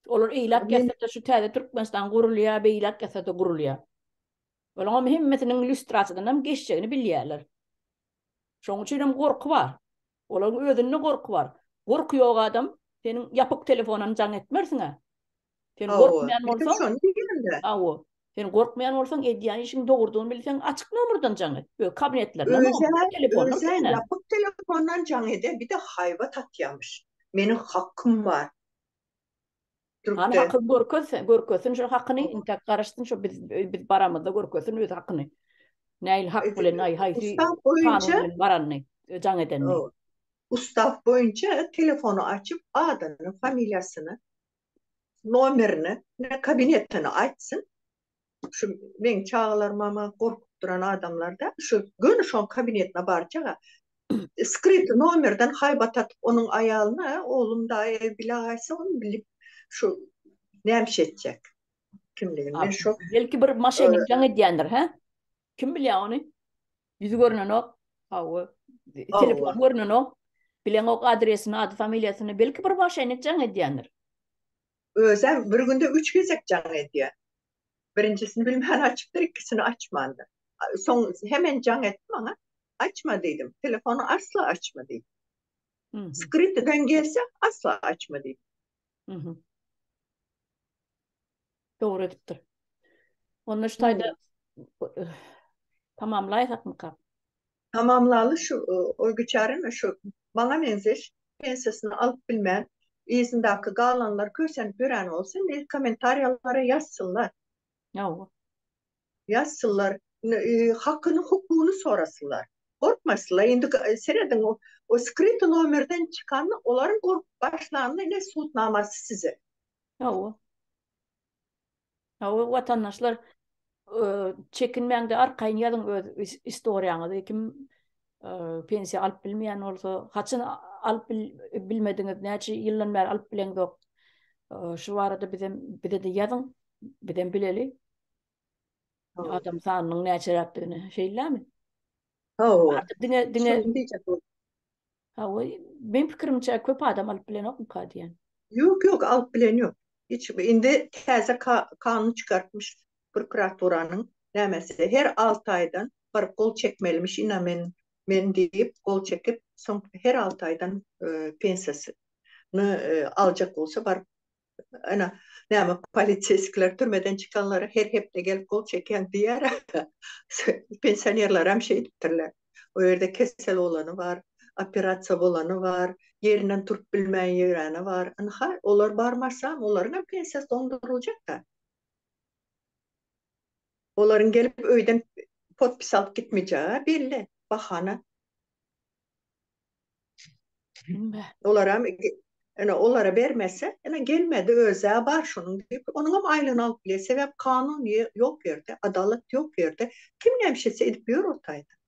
Olar eýläk ýasa-da, şu täze Türkmenistan gurulýar, beýläk ýasa-da gurulýar. Olaňam hemmesiniň lýustrasiýadanam geçjegini bilýärler. Şoň üçinem gorky bar. Olaryň özünde gorky bar. Gorky ýok adam seniň ýapyk telefonam jaň etmersiň-ä. Sen gorkmaýan bolsaň, hawa, sen gorkmaýan bolsaň, edýän işiň dogrudygyny bilseň, açyk nomerden jaň et. Öz kabinetlerinden, açyk telefondan sen-ä. Özem ýapyk telefondan jaň eder, bir-de haýbat atýarmyş. Meniň hakym bar. Türkde. Hakyny görkezse, görkezsin şu hakyny, intäk garaşsyn şu biz biz baramyzda görkezsin öz hakyny. Näil hak bilen ay hay şu kanun baranny, jaň edenni. Ustav boýunça telefonu açyp adyny, familiýasyny, nomerini, kabinetini aýtsyn. Şu meň çagalarymam gorkup duran adamlarda, şu göni şoň kabinetine barjak-a. Skryty nomerden haýbat atyp onuň aýalyna, oglum daýy bile gaýtsa ony bilip şu nämişe etjek kimligini. Men şu. Belki bir maşennikleň edýändir, hä? Kim bilýä ony? Ýüzi görnenok. Hawa. Telefony görnenok. Bileňok adresini, ady-familiýasyny. Belki bir maşennik jaň edýändir. Özem bir günde üç gezek jaň edýär. Birinjisini bilmän açypdyr, ikisini açmandyr. Soň hemen jaň etdi maňa. Açma diýdim. Telefony asla açma diýdi. Skrytiden gelse asla açma diýdi. Dogry edipdir. Onda şu taýda tamamlaýsakmyka? Tamamlaly şu oýbiçäremi şu maňa meňzeş pensiýasyny alyp bilmän yzyndaky galanlar kösenip ýören bolsa indi kommentariýalara ýazsynlar. Hawa. Ýazsynlar hakyny hukugyny sorasynlar. Gorkmasynlar indi serediň o skryty nomerden çykanda olaryň gorkup başlanyny ine sud namasy size. Hawa. Hawa watandaşlar çekinmäňde arkaýyn ýazyň öz istoriýaňyzy kim pensiýa alyp bilmeýän bolsa haçan alyp bilmediňiz näçe ýyldan bäri alyp bileňzok şu barada bizem bizede ýazyň bizem bileli adam sanynyň näçeräkdigini şeýlämi Hawa. Artyk diňe diňe Şony diýjek boldum. Hawa, meň pikirimçe köp adam alyp bilenokmy ka diýen. Ýok, ýok, alyp bilen ýok. Hiç indi täze ka- kanun çykartmyş prokuraturanyň nämesi. Her alty aýdan bir gol çekmelimiş ina men men diýip gol çekip, soň her alty aýdan e, pensiýasyny e, aljak bolsa baryp Ana, näme polisiýskler türmeden çykanlara her hepde gelip gol çekýän diýýär. Pensionerler hem şeý diýipdirler. O ýerde kesel bolany bar, operasiýa bolany bar, ýerinden turup bilmän ýöreni bar. Ynha, olar barmasa, olaryň hem pensiýasy doňduryljakda. Olaryň gelip öýden podpis alyp gitmejegi belli, bahana. Olaram ene olara bermese, ene gelmedi özä bar şonuň diýip, onuňam aýlygyny alyp bilýär. Sebäp kanun ýok bu ýerde, adalat ýok bu ýerde. Kim näme şeýtse edip ýör ortaýda.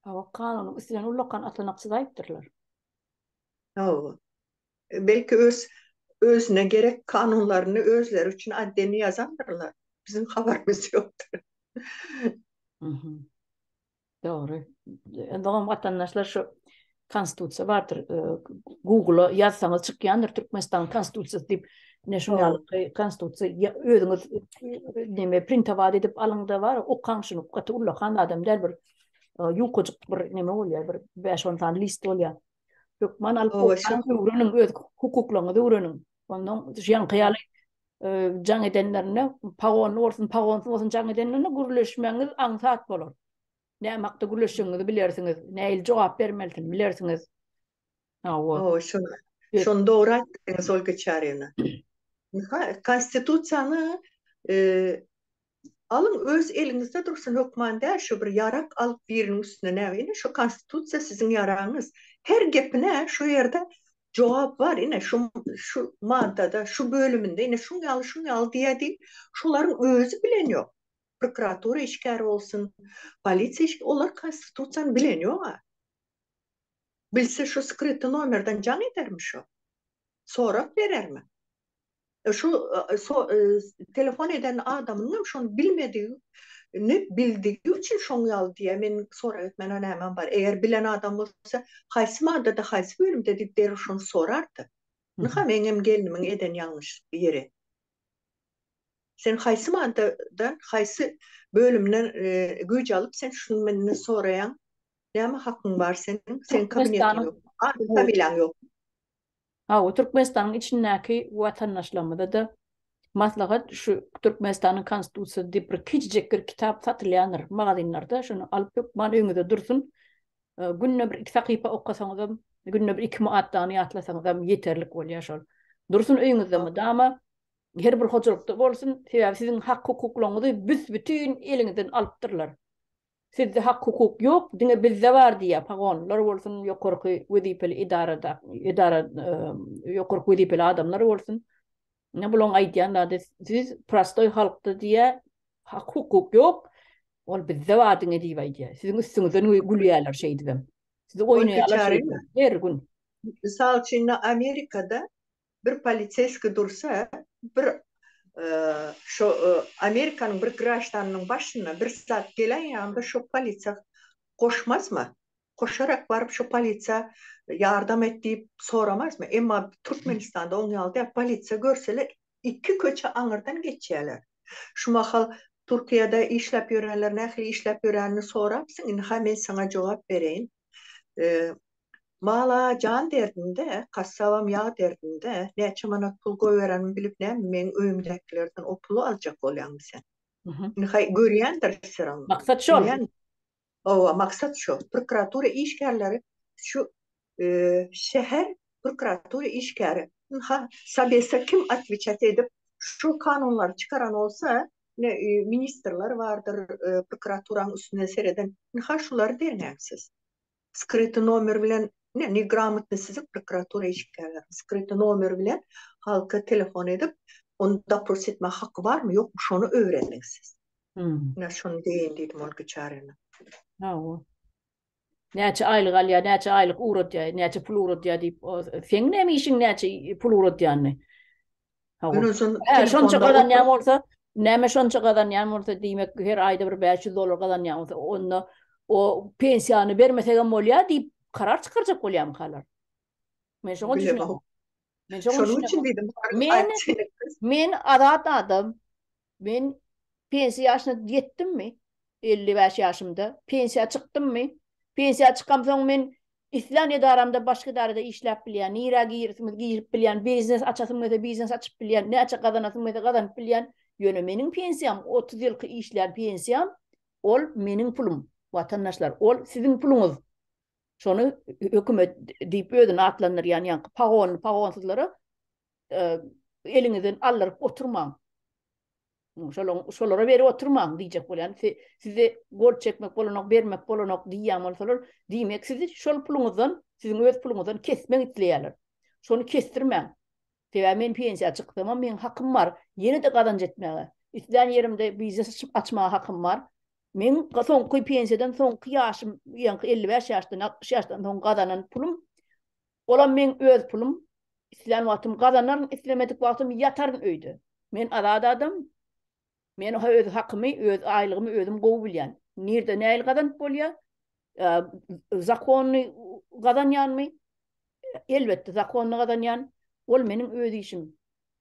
Hawa, kanunyň üstünden ullakan atlanakçy zaýpdyrlar. Hawa. Belki öz özüne gerek kanunlaryny özleri üçin addeni ýazandyrlar. Biziň habarymyz ýokdur. Mhm. Dogry. Öňem watandaşlar şu konstitusiýa bardyr. Google-a ýazsaňyz çykýandyr Türkmenistanyň konstitusiýasy diýip. Ine şunuň ýaly konstitusiýa özüňiz näme printowat edip alyňda bar, okaň şuny. Gaty ullakan adam däl bir ýukajyk bir näme bolýar, bir bäş-on sany list bolýar. Hökman alyp öwreniň, öz hukuklaryňyzy öwreniň. Ondan ýaňky ýaly jaň edenlerinde, pagonly bolsun, pagonsuz bolsun jaň edenlerinde gürleşmegiňiz aňsat bolar. Näme hakda gürleşjegiňizi bilersiňiz, nähili jogap bermelisini bilersiňiz. Hawa. Şony dogry aýtdyňyz, Olga Çaryna. Konstitusiýany Alyň öz eliňizde dursun hökman däl şo bir ýarak alyp biriniň üstüne näme ine şo konstitusiýa siziň ýaragyňyz her gepine şo ýerde jogap bar ine şo şu maddada şu bölüminde ine şuň ýaly şuň ýaly diýýä diýip şolaryň özi bilen ýok prokuratura işgäri bolsun polisiýa işgäri olar konstitusiýany bilen ýok a bilse şo skryty nomerden jaň edermi şo sorag berermi. Şu telefon eden adamynyňam şony bilmedigini bildigi üçin şoň ýaly diýýär. Men sorag etmäne nämem bar. Eger bilen adam bolsa, haýsy maddada, haýsy bölümde diýip derrew şony sorardy. Ynha, meňem gelnimiň eden ýalňyş ýeri. Sen haýsy maddadan, haýsy bölümden güýç alyp sen şuny menden soraýaň? Näme hakyň bar seniň? Seniň kabinetiň ýokmy? Ady-familiýaň ýokmy? Hawa, Türkmenistanyň içindäki watandaşlarymyza-da maslahat, şu Türkmenistanyň Konstitusiýasy diýip bir kiçijek bir kitap satylýandyr magazynlarda, şony alyp hökman öýňüzde dursun. Günde bir-iki sahypa okasaňyzam, günde bir iki maddany ýatlasaňyzam ýeterlik bolýar şol. Dursun öýňüzde mydama, her bir hojalykda bolsun, sebäbi siziň hak-hukuklaryňyzy büs-bütin eliňizden alypdyrlar. Sizde hak hukuk ýok diňe bizde bar diýýär pagon lar bolsun ýokarky wezipeli edarada edara ýokarky wezipeli adamlar bolsun ine bulaň aýdýan zady siz prostoý halkda diýýär hak hukuk ýok ol bizde bar diňe diýip aýdýar siziň üstüňizden gülýärler şeýdibem sizi oýnaýarlar her gün Mysal üçin indi Amerikada Bir poliseski dursa, bir şo Amerikanyň bir graždanynyň başyna bir zat gelen ýanda şo polisiýa goşmazmy? Goşarak baryp şo polisiýa ýardam et diýip soramazmy? Emma Türkmenistanda oň ýaly däl. Polisiýa görseler iki köçe aňyrdan geçýäler. Şu mahal Türkiýede işläp ýörenler nähili işläp ýörenini sorapsyň, indi-ha men saňa jogap bereýin. Mala jan derdinde, kassabam ýag derdinde, näçe manat pul goýberenimi bilip näme, meň öýümdäkilerden o puly aljak bolýaňmy sen? Indi haý, görýändir syryň. Maksat şol. Hawa, maksat şo. Prokuratura işgärleri şu şäher prokuratura işgäri. Ynha, Sabesa kim otwejat edip, şu kanunlary çykaran bolsa, ine ministrler bardyr, prokuraturanyň üstünden sereden, ine ha şulary derňäň siz. Skryty nomer bilen, ine negramotny sizi prokuratura işgärleri, skryty nomer bilen halka telefon edip, ony dopros etmäge haky barmy, ýokmy şony öwreniň siz. Ine şony deýin diýdim ol biçärene. Hawa. Näçe aýlyk alýar, näçe aýlyk ugratýar, näçe pul ugratýar diýip, seň näme işiň näçe pul ugratýanyny? Hä, şonça gazanýan bolsa, näme şonça gazanýan bolsa, diýmek, her aýda bir bäş ýüz dollar gazanýan bolsa, onda o pensiýany bermesegem bolýar diýip, karar çykarjak bolýarmykalar? Men şoňa düşünemok. Men şoňa düşünemok. Men azat adam. Men pensiýa ýaşyna ýetdimmi? Elli bäş ýaşymda pensiýa çykdymmy? Pensiýa çykamsoň men islän edaramda, başga edarada işläp bilýän, nirä girsimiz girip bilýän, biznes açasym gelse biznes açyp bilýän, näçe gazanasym gelse gazanyp bilýän. Ýöne meniň pensiýam, otuz ýylky işlän pensiýam, ol meniň pulum. Watandaşlar, ol siziň puluňyz. Şony hökümet diýip özüni atlandyrýan ýaňky pagonly-pagonsyzlara eliňizden aldyryp oturmaň. Şolaň şolara berip oturmaň diýjek bolýan. Size gol çekmek bolanok, bermek bolanok diýýän bolsalar, diýmek sizi şol puluňyzdan, siziň öz puluňyzdan kesmek isleýärler. Şony kesdirmäň. Sebäbi men pensiýa çykdym, meň hakym bar, ýene-de gazanç etmäge. Islän ýerimde biznes açyp açmaga hakym bar. Men soňky pensiýadan soňky ýaşym, ýaňky 55 ýaşdan, 60 ýaşdan soň gazanan pulum Olam meň öz pulum, islän wagtym gazanaryn, islemedik wagtym ýataryn öýde. Men azat adam. Men öz hakymy, öz aýlygymy özüm gowy bilýän. Nirde nähili gazanyp bolýar? Zakonyny gazanýanmy? Elbetde, zakonyny gazanýan. Ol meniň öz işim.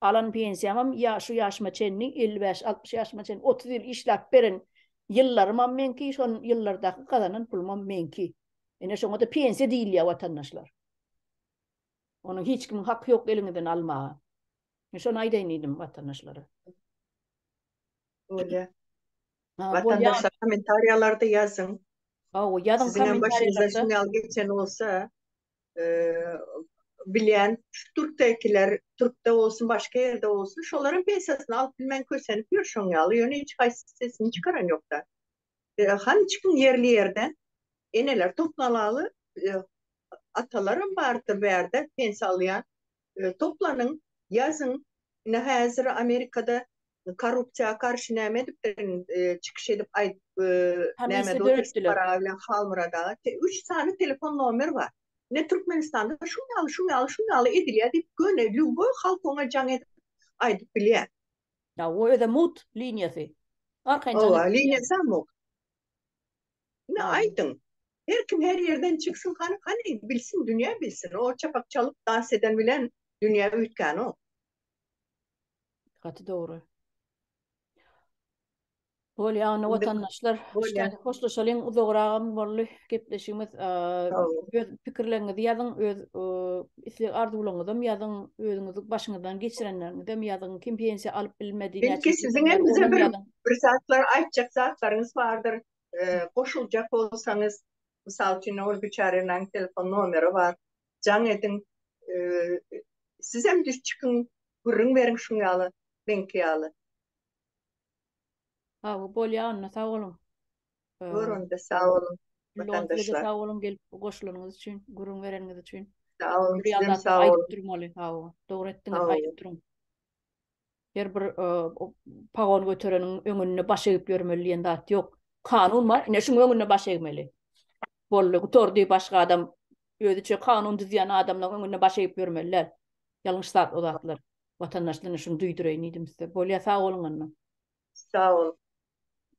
Alan pensiýamam ýa şu ýaşyma çenli, elli bäş, altmyş ýaşyma çenli otuz ýyl işläp beren ýyllarymam meňki, şol ýyllardaky gazanan pulumam meňki. Ine şoňa-da pensiýa diýilýär watandaşlar. Onuň hiç kimiň haky ýok eliňizden almaga. Men şony aýdaýyn diýdim watandaşlara. Bolýa. Watandaşlar kommentariýalarda ýazyň. Hawa, ýazyň kommentariýalarda. Siziň ýaly geçen bolsa, bilýän türkdekiler, türkde bolsun, başga ýerde bolsun, şolaryň pensiýasyny alyp bilmän kösenip ýör şoň ýaly. Ýöne hiç haýsy sesini çykaran ýok-da. Hany çykyň ýerli ýerden. Eneler toplanaly atalaram bardyr bärde pens alýan. Toplanyň ýazyň. Ine häzir Amerikada korrupsiýa garşy näme edipdirin çykyş edip aýdyp näme dörüpdiler. Halmyrada üç sany telefon nomer bar. Ine Türkmenistanda şuň ýaly şuň ýaly şuň ýaly edilýär diýip göni lýuboý halk oňa jaň edip aýdyp bilýär. Hawa öze mugt liniýasy. Arkaýyn janyp. Hawa liniýasam mugt. Ine aýdyň. Her kim her ýerden çyksyn hany hany bilsin dünýä bilsin o çapak çalyp dans eden bilen dünýä üýtgänok. Gaty dogry. Bolýa onda watandaşlar işdäniň hoşlaşalyň uzagragam boldy gepleşigimiz öz pikirleriňizi ýazyň öz isleg arzuwlaryňyzam ýazyň özüňizi başyňyzdan geçirenleriňizem ýazyň kim pensiýa alyp bilmedi belki siziňem bize bir bir zatlar aýtjak zatlaryňyz bardyr goşuljak bolsaňyz mysal üçin ol biçärenäň telefon nomeri bar jaň ediň sizem düş çykyň gürrüň beriň şuň ýaly meňki ýaly Hawa, bolýar onda, sag boluň. Bor onda, sag boluň, watandaşlar. Sag boluň, gelip goşulanyňyz üçin, gürrüň bereniňiz üçin. Sag boluň, siz hem sag boluň. Aýdyp durmaly, hawa, dogry etdiňiz, aýdyp duruň. Her bir pagon götereniň öňünde baş egip ýörmeli diýen zat ýok. Kanun bar, ine şuň öňünde baş egmeli. Boldy, gutardy, başga adam, özüçe kanun düzýän adamlaryň öňünde baş egip ýörmeli däl. Ýalňyş zat o zatlar. Watandaşlar şuny duýdureýin diýdim size. Bolýa sag boluň onda. Sag bol.